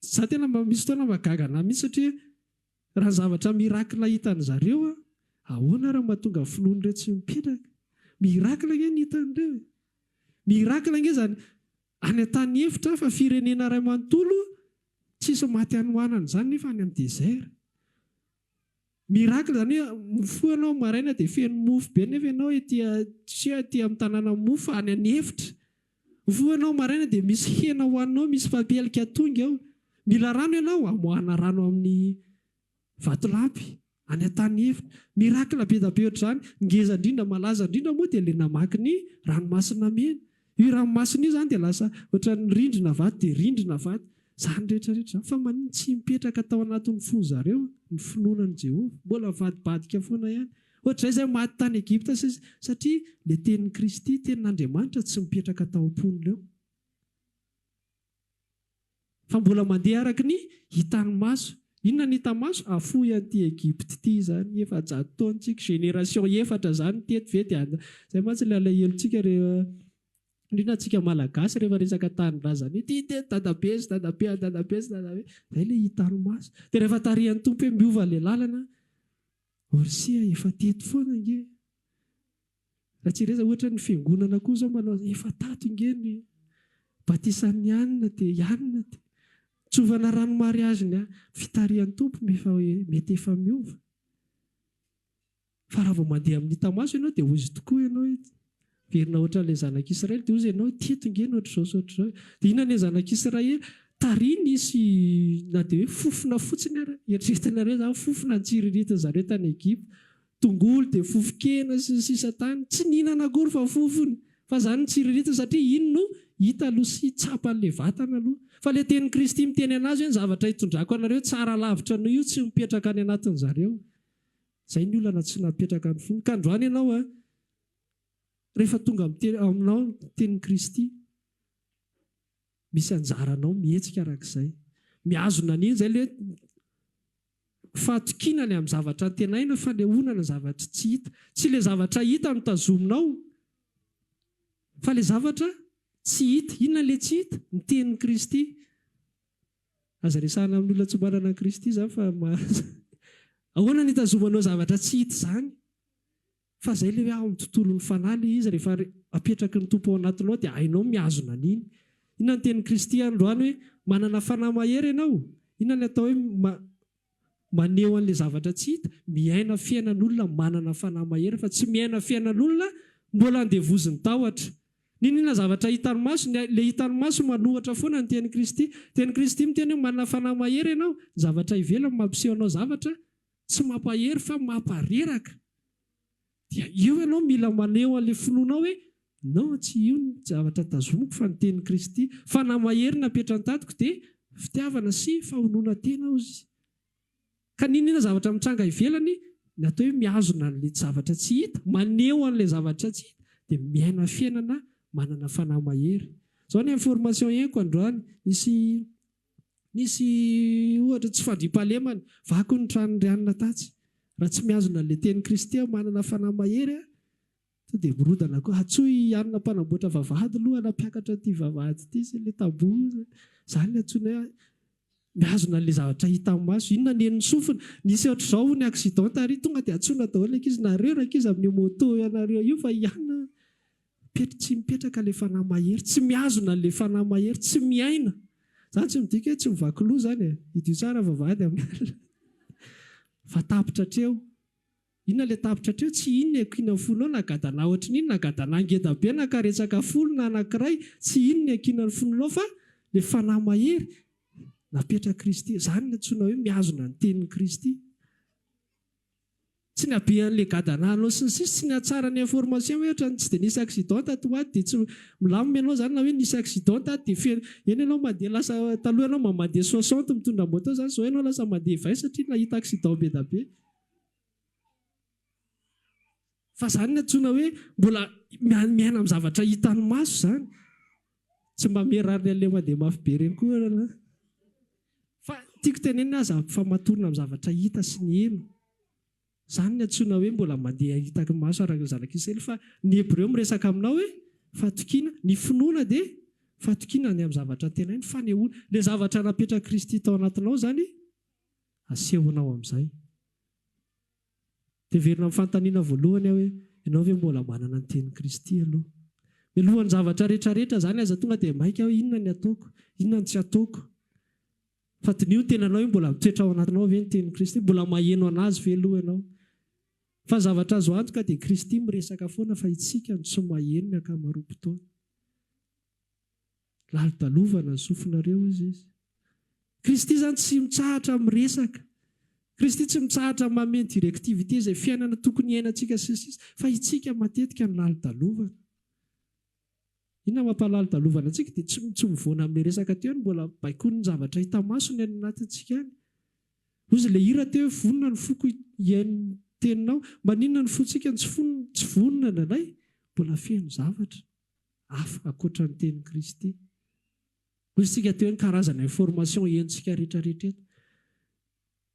za tena mba misy fotoana mba gaga anah mihitsy satria raha zavatra miracle hitan'ny zareo an ahoana ary mahatonga finoana ireo tsy mipetraka miracle ange ny hitan'ireo e miracle ange zany any an-tany efitra hafa firenena iray manontolo tsisy maty hanohanana izany nefa any amin'ny desert Miracle izany hoe mifoha ianao maraina dia feno mofo be nefa ianao ety tsia ety amin'ny tanàna mofo any any efitra. Mifoha ianao maraina dia misy hena hohaninao misy fapielika atonga eo. Mila rano ianao, amoahana rano amin'ny vatolampy any an-tany efitra. Miracle be dia be ohatr'izany. Ny ngeza indrindra malaza indrindra moa dia ilay namaky ny ranomasina mena. Io ranomasina io izany dia lasa ohatran'ny rindrina vato dia rindrina vato izany rehetra rehetra izany. Fa maninona tsy mipetraka tao anatin'ny fon'ny zareo ny finoana an'i Jehovah? Mbola mivadibadika foana ihany. Ohatr'izay izay maty tany Egypta satria ilay tenin'i Kristy, tenin'Andriamanitra, tsy mipetraka tao am-pon'ireo. Fa mbola mandeha araka ny hitan'ny maso. Inona no hitan'ny maso? Hafoy an'ity Egypte ity izany, efajato taona tsika, génération efatra izany teto ve dia any. Izay mantsy ilay alahelontsika rehefa, indrindra antsika Malagasy rehefa resaka tanindrazana ity dia ny dadabe sy dadabe an'i dadabe sy dadabe. Izay ilay hitan'ny maso. Dia rehefa tarihan'ny Tompo hoe miova ilay lalana, Orsia efa teto foana ange. Ratsireza ohatra ny fiangonana koa zao manao efa tato nge ny batisan'ny anona de i anona de nitsovana rano mariage ny fitarihan'ny Tompo mefa mety efa miova fa raha vao mandeha amin'ny hita maso ianao de ozy tokoa ianao hoe miverina ohatran'ilay zanak'israely de ozy ianao hoe teto nge ny ohatr'izao sy ohatr'izao de inona ilay zanak'israely tariny sy na de hoe fofona fotsiny ary eritreretinareo zany fofona nitsiriritin'zareo tany Egypta tongolo dia fofon-kena sy ny sisa tany tsy nihinana akory fa fofony fa zany nitsiriritiny satria iny no hita aloha sy tsapa an'le vatana aloha fa le tenin'i Kristy miteny anazy hoe ny zavatra hitondrako anareo tsara lavitra noho io tsy mipetraka any anatin'ny zareo zay ny olana tsy napetraka ny fony ka androany ianao a rehefa tonga miteny aminao ny tenin'i Kristy misy anjaranao mihetsika arak'izay mihazona an'iny zay le Fahatokiana ny amin'ny zavatra antenaina, fanehoana ny zavatra tsy hita. Tsy ilay zavatra hita no tazominao, fa ilay zavatra tsy hita. Inona ilay tsy hita? Ny tenin'i Kristy. Aza resahina amin'ny olona tsy manana an'i Kristy izany fa maha. Ahoana no itazomanao zavatra tsy hita izany? Fa zay le hoe ao amin'ny tontolon'ny fanahy le izy rehefa apetraky ny Tompo ao anatinao dia hainao ny mihazona an'iny. Inona ny tenin'i Kristy androany hoe manana fanahy mahery ianao? Inona ny atao hoe maneho an'le zavatra tsy hita? Miaina fiainan'olona manana fanahy mahery fa tsy miaina fiainan'olona mbola andevozin'ny tahotra. Niniana zavatra hitan'ny maso, le hitan'ny maso manohitra foana ny tenin'i Kristy. Tenin'i Kristy miteny hoe manana fanahy mahery ianao, ny zavatra ivelany mampiseho anao zavatra Tsy mampahery fa mampareraka. Dia eo ianao mila maneho an'ilay finoanao hoe, Non, tsy io no zavatra tazomiko fa ny tenin'i Kristy. Fanahy mahery napetra an-tatiko dia fitiavana sy fahonoana tena ao izy. Ka n'inon'inona zavatra mitranga ivelany, ny atao hoe mihazona an'ilay zavatra tsy hita, maneho an'ilay zavatra tsy hita, dia miaina fiainana manana fanahy mahery. Izao ny information ienko androany, nisy Nisy ohatra tsy fandriampahalemana, vaky ny tranon'i Rianina tatsy. Raha tsy mihazona an'ilay tenin'i Kristy aho, manana fanahy mahery aho, tonga dia mirodana koa. Antsoy i Anna mpanamboatra vavahady aloha hanampiakatra ity vavahady ity sy ilay tamboho. Izany no antsoinay ahy. Mihazona an'ilay zavatra hitan'ny maso. Inona ny henon'ny sofina? Nisy ohatr'izao hono ny accident tary, tonga dia antsoina daholo ny ankizy, nareo rankizy amin'io moto ianareo io fa i Anna Petr tsy mipetraka le fanahy mahery, tsy mihazona anle fanahy mahery, tsy miaina, zany tsy midika hoe tsy mivaky loha zany e, hidio tsara vavahady amin'ny alina fa tapitra hatreo, inona le tapitra hatreo, tsy inona e, kiana fo nao na gadana ohatry ny inona na gadana ngeda be na karetsaka folo na anakiray, tsy inona e, kiana ny fo nao fa le fanahy mahery napetra Kristy, zany no antsoina hoe mihazona ny tenin'i Kristy. Tsy ny habean'ilay gadan'anao sy ny sisa sy ny hatsaran'ny information hoe otrany tsy dia nisy accident taty ho aty dia tsy milamina ianao zany na hoe nisy accident taty dia feno eny ianao mandeha lasa taloha ianao mba mandeha soixante mitondra moto zany zao ianao lasa mandeha vingt satria nahita accident be da be Fa izany no antsoina hoe mbola miaina amin'ny zavatra hitan'ny maso izany. Tsy mba mirary ny aleha mandeha mafy be ireny koa ianareo an. Fa tiako tenenina aza ampifamatorina amin'ny zavatra hita sy ny heno. Izany no antsoina hoe mbola mandeha hitan'ny maso araka ny zanak'Israely. Fa ny Hebreo miresaka aminao hoe fatokiana. Ny finoana dia fatokiana ny amin'ny zavatra antenaina, fanehoana. Ilay zavatra napetrak'i Kristy tao anatinao izany asehonao amin'izay. Heverina amin'ny fanontaniana voalohany aho hoe, Ianao ve mbola manana ny tenin'i Kristy aloha? Mialohan'ny zavatra rehetrarehetra izany, aiza tonga dia maika aho hoe, Inona ny ataoko? Inona no tsy ataoko? Fa diniho ny tenanao hoe mbola mitoetra ao anatinao ve ny tenin'i Kristy? Mbola maheno an'Azy ve aloha ianao? Fa ny zavatra azo antoka dia Kristy miresaka foana fa isika no tsy maheno ny ankamaroam-potoana. Lalodalovana ny sofinareo izy izy. Kristy izany tsy mitsahatra miresaka. Kristy tsy mitsahatra mamehy ny directivité izay fiainana tokony hiainantsika sy ny sisa. Fa itsika matetika no lalodalovana. Inona mampalalodalovana antsika dia tsy tsy mivoana amin'ilay resaka teo any mbola baikoin'ny zavatra hita maso ny any anatintsika any. Hozy ilay hira teo hoe vonona ny foko hihaino ny teninao. Maninona ny fontsika no tsy fon- tsy vonona indraindray? Mbola feno zavatra. hafa ankoatra ny tenin'i Kristy. Hoy isika teo hoe ny karazana information henontsika rehetrarehetra eto.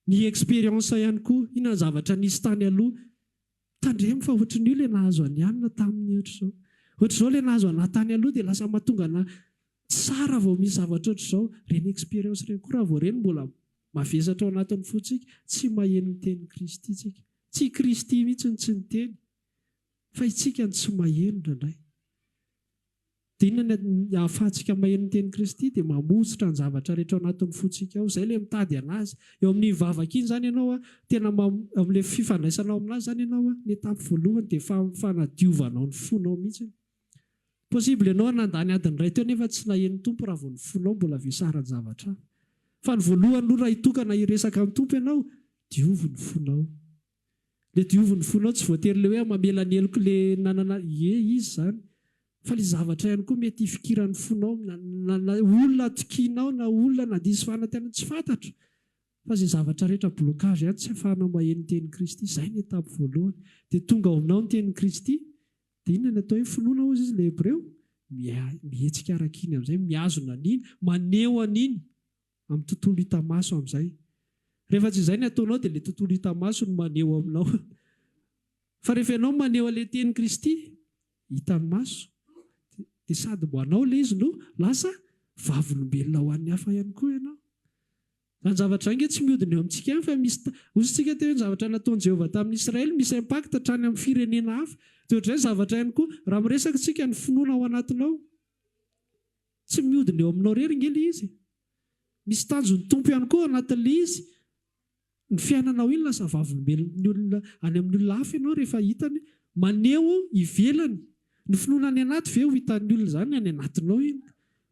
Ny expérience ihany koa. Inona ny zavatra nisy tany aloha. Tandremo fa ohatran'io ilay nahazo an'i Anna taminy ohatr'izao. Ohatr'izao ilay nahazo anà tany aloha dia lasa mahatonga anà tsara vao misy zavatra ohatr'izao. Ireny expérience ireny koa raha vao ireny mbola mavesatra ao anatin'ny fontsika, tsy maheno ny tenin'i Kristy isika. Tsy i Kristy mihitsy no tsy niteny. Fa isika no tsy maheno indraindray. Dia inona ny ahafahantsika maheno ny tenin'i Kristy? Dia mamotsitra ny zavatra rehetra ao anatin'ny fontsika ao. Izay ilay mitady an'Azy. Eo amin'iny vavaka iny izany ianao an, tena ma, eo amin'ilay fifandraisanao amin'Azy izany ianao an, ny étape voalohany dia fa, fanadiovanao ny fonao mihitsy. Possible ianao nandany adiny iray teo nefa tsy naheno ny Tompo raha vao ny fonao mbola vesaran-javatra hafa. Fa ny voalohany aloha raha hitokana hiresaka ny Tompo ianao, diovy ny fonao. Le diovy ny fonao tsy voatery le hoe ah mamela ny heloko le nanana ie izy zany fa le zavatra ihany koa mety hifikiran'ny fonao na olona atokianao na olona nandiso fanantenana tsy fantatro fa ze zavatra rehetra blocage ihany tsy afahanao maheno ny tenin'i Kristy zay ny étape voalohany de tonga ao aminao ny tenin'i Kristy de inona ny atao hoe finoana hozy izy le hebreo mihetsika arak'iny amizay mihazona an'iny maneho an'iny amin'ny tontolo hita maso amin'izay. Rehefa tsy izay ny ataonao dia ilay tontolo hita maso no maneho aminao. Fa rehefa ianao maneho an'ilay tenin'i Kristy hitan'ny maso dia sady ho anao ilay izy no lasa vavolombelona ho an'ny hafa ihany koa ianao. Izany zavatra izany ange tsy mihodina eo amintsika ihany fa misy ta-, hoy isika teo hoe ny zavatra nataon'i Jehovah tamin'ny Israely misy impact hatrany amin'ny firenena hafa. Dia ohatr'izay ny zavatra ihany koa raha miresaka isika ny finoana ao anatinao. Tsy mihodina eo aminao irery ange ilay izy. Misy tanjon'ny Tompo ihany koa ao anatin'ilay izy ny fiainanao iny. Lasa vavolombelon'ny olona any amin'ny olona hafa ianao rehefa hitany hoe maneho ivelany ny finoana any anaty ve ho hitan'ny olona izany ny any anatinao iny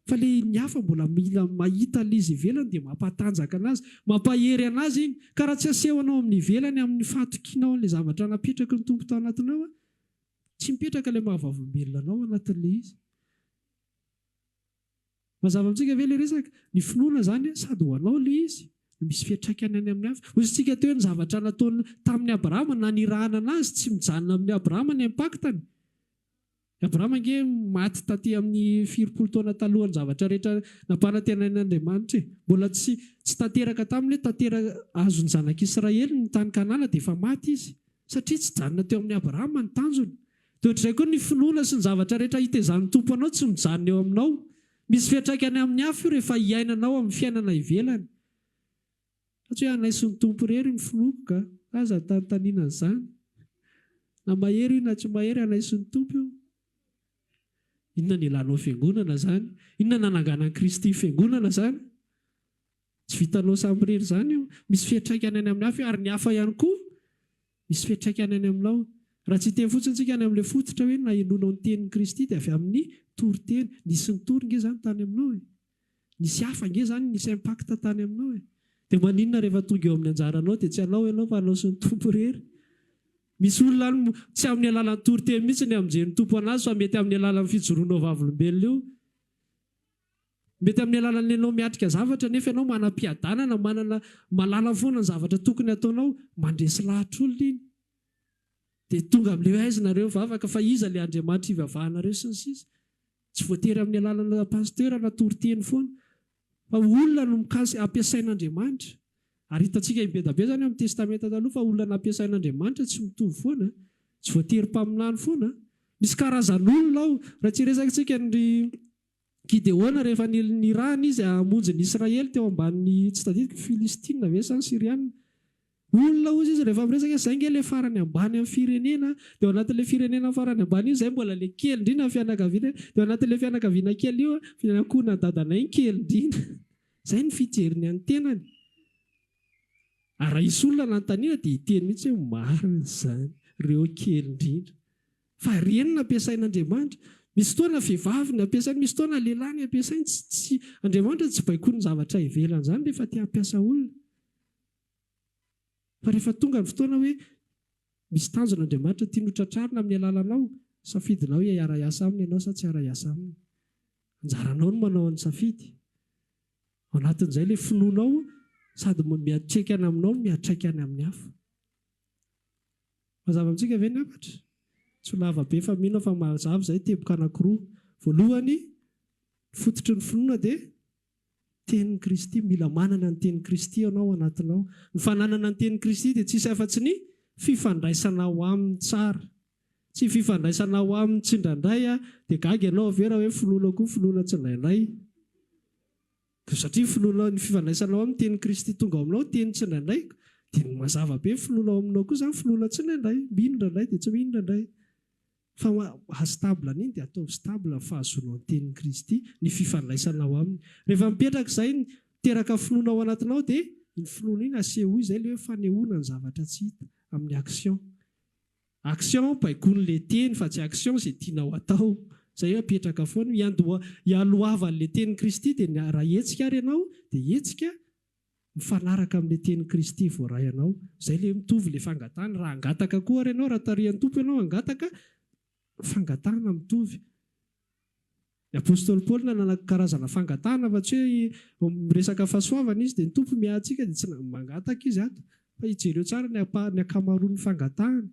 fa ilay ny hafa mbola mila mahita ilay izy ivelany dia mampatanjaka anazy mampahery anazy iny ka raha tsy asehonao amin'ny ivelany amin'ny fahatokianao an'ilay zavatra napetraky ny Tompo tao anatinao tsy mipetraka ilay maha vavolombelona anao ao anatin'ilay izy. Mazava amintsika ve ilay resaka? Ny finoana izany sady ho anao ilay izy no misy fiantraikany any amin'ny hafa. Hoy isika teo hoe ny zavatra nataony tamin'i Abrahama na nirahana anazy tsy mijanona amin'i Abrahama ny impact-ny. I Abrahama ange maty taty amin'ny firy polo taona talohan'ny zavatra rehetra nampanantenain'Andriamanitra e! Mbola tsy tsy tanteraka taminy hoe tantera azon'ny zanak'Israely ny tany Kanana dia efa maty izy. Satria tsy janona teo amin'i Abrahama ny tanjony. Dia ohatr'izay koa ny finoana sy ny zavatra rehetra hitezan'ny Tompo anao tsy mijanona eo aminao. Misy fiantraikany amin'ny hafa io rehefa iainanao amin'ny fiainana ivelany. Fa tsy hoe hanaiso ny Tompo irery ny finoako ka. Aza anontaniana an'izany. Na mahery io na tsy mahery, hanaiso ny Tompo io. Inona no ilanao fiangonana izany? Inona no nananganan'i Kristy fiangonana izany? Tsy vitanao samy irery izany io. Misy fiantraikany any amin'ny hafa ary ny hafa ihany koa misy fiantraikany any aminao. Raha tsy hiteny fotsiny isika any amin'ilay fototra hoe nahenoanao ny tenin'i Kristy dia avy amin'ny toriteny. Nisy nitory nge izany tany aminao e. Nisy hafa nge izany nisy impact tany aminao e. Dia maninona rehefa tonga eo amin'ny anjaranao dia tsy anao ianao fa anao sy ny Tompo irery. Misy olona any moa tsy amin'ny alalan'ny toriteny mihitsy ny hamonjen'ny Tompo an'azy fa mety amin'ny alalan'ny fijoroanao vavolombelona io. Mety amin'ny alalan'ny anao miatrika zavatra nefa ianao manam-piadanana, manana, mahalala foana ny zavatra tokony hataonao, mandresy lahatra olona iny. Dia tonga amin'ilay hoe aiza nareo vavaka fa iza ilay Andriamanitra hivavahanareo sy ny sisa. Tsy voatery amin'ny alalana pasteur na toriteny foana fa olona no mikasika, ampiasain'Andriamanitra. Ary hitantsika hibedabeda any amin'ny testamenta taloha fa olona nampiasain'Andriamanitra tsy mitovy foana, tsy voatery mpaminany foana. Misy karazan'olona ao, raha tsy hiresaka tsika ny ry. Gideona rehefa nirahina izy hamonjy ny Israely teo ambanin'ny tsy tadidiko Filistina ve sa ny Syriana? Olona hozy izy rehefa miresaka hoe zay nge le farany ambany amin'ny firenena de ao anatin'le firenena farany ambany io zay mbola le kely indrindra fianakaviana de ao anatin'le fianakaviana kely io fianakona dadanay ny kely indrindra zay ny fijeriny an'ny tenany ary raha hisy olona anantaniana de hiteny mihitsy hoe marina izany reo kely indrindra Fa reny no ampiasain'Andriamanitra. Misy fotoana vehivavy no ampiasainy, misy fotoana lehilahy no ampiasainy. Tsy, tsy, Andriamanitra tsy baikoin'ny zavatra ivelany izany rehefa te hampiasa olona. Fa rehefa tonga ny fotoana hoe misy tanjona Andriamanitra tiany hotratrarina amin'ny alalanao, safidinao hoe hiara-hiasa Aminy ianao sa tsy hiara-hiasa Aminy. Anjaranao ny manao ny safidy. Ao anatin'izay ilay finoanao sady miantraikany aminao no miantraikany amin'ny hafa. Mazava amintsika ve ny hafatra? Tsy ho lava be fa mino aho fa mazava izay, teboka anankiroa. Voalohany, ny fototry ny finoana dia tenin'i Kristy. Mila manana ny tenin'i Kristy ianao ao anatinao. Ny fananana ny tenin'i Kristy dia tsy hisy afa-tsy ny fifandraisanao Aminy tsara. Tsy ny fifandraisanao Aminy tsindraindray, dia gaga ianao ve raha hoe finoana koa finoana tsindraindray? Koa satria finoanao ny fifandraisanao amin'ny tenin'i Kristy tonga ao aminao teny tsindraindraiky dia ny mazava be ny finoana ao aminao koa izany finoana tsindraindray mino indraindray dia tsy mino indraindray fa maha stable an'iny dia ataovy stable ny fahazoanao ny tenin'i Kristy ny fifandraisanao aminy rehefa mipetraka izay ny teraka finoana ao anatinao dia iny finoana iny asehoy izay ilay hoe fanehoana ny zavatra tsy hita amin'ny action Action, baikoiny le teny fa tsy action ze tianao atao. Zay apetraka foana, hiandoha hialohavan'ny le tenin'i Kristy de ny raha hetsika ary ianao de hetsika mifanaraka amin'ny le tenin'i Kristy voaray anao. Zay le mitovy le fangatahana, raha hangataka koa ary ianao raha tarihan'ny Tompo ianao hangataka, fangatahana mitovy. Ny apostoly Paoly nanana karazana fangatahana fa tsy hoe miresaka fahasoavana izy dia ny Tompo miahy antsika dia tsy mangataka izy ato fa hijereo tsara ny ny ankamaroan'ny fangatahany.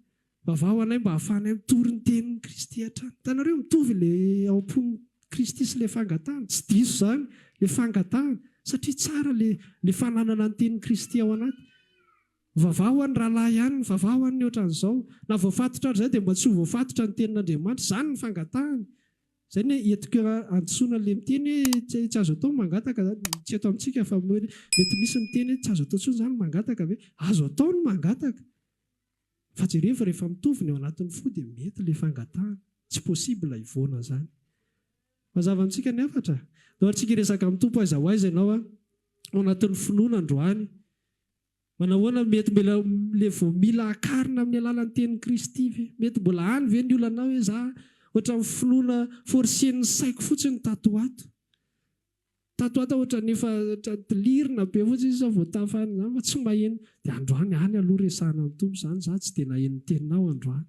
Vavaho anay mba hahafahanay mitory ny tenin'i Kristy hatrany. Hitanareo? Mitovy ilay ao am-pon'i Kristy sy ilay fangatahana. Tsy diso izany ilay fangatahana satria tsara ilay ilay fananana ny tenin'i Kristy ao anaty. Vavaha ho an'ny rahalahy ihany, vavaha ho an'ny ohatran'izao. Na voafatotra ary izay dia mba tsy ho voafatotra ny tenin'Andriamanitra. Izany ny fangatahany. Izay no hoe entiko hadisoana ilay miteny hoe tsy azo atao ny mangataka izany. Tsy eto amintsika fa mety misy miteny hoe tsy azo atao intsony izany ny mangataka ve? Azo atao ny mangataka. Fa jerevo rehefa mitovy ny ao anatin'ny fo dia mety ilay fangatahana. Tsy possible hivoana izany. Mazava amintsika ny hafatra? Daholo tsika hiresaka amin'ny Tompo aiza ho aiza ianao ao anatin'ny finoana androany. Manahoana, mety mbola ilay vao mila akarina amin'ny alalan'ny tenin'i Kristy ve? Mety mbola any ve ny olanao hoe za ohatran'ny finoana forcen'ny saiko fotsiny tato ho ato? Tato ho ato aho ohatran'ny efa lirina be fotsiny sisa vao tafa any izany fa tsy maheno. Dia androany any aloha resahana amin'ny Tompo izany, za tsy dia naheno ny teninao androany.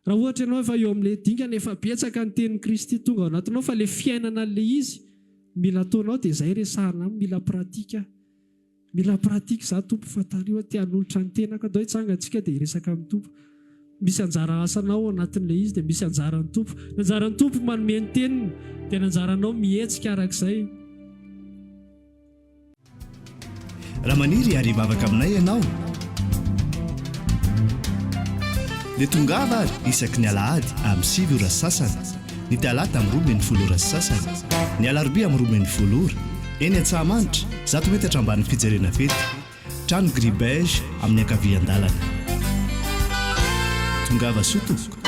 Raha ohatra ianao efa eo amin'ilay dingana, efa betsaka ny tenin'i Kristy tonga ao anatinao, fa ilay fiainana an'ilay izy no mila ataonao, dia izay resahana aminy, mila pratique aho, mila pratique izaho Tompo, fa tariho aho, te-hanolotra ny tenako aho, ndao hitsangantsika dia hiresaka amin'ny Tompo. Misy anjara asanao ao anatin'ilay izy, dia misy anjaran'ny Tompo. Ny anjaran'ny Tompo manome ny teniny, dia ny anjaranao mihetsika arak'izay. Raha maniry hiary hivavaka aminay ianao, dia tongava ary isaky ny alahady amin'ny sivy ora sy sasany, ny talata amin'ny roa ambin'ny folo ora sy sasany, ny alarobia amin'ny roa ambin'ny folo ora, eny Antsahamanitra, zato metatra ambanin'ny fijerena fety, trano gris beige amin'ny ankavian-dalana. Tongava soa tompoko.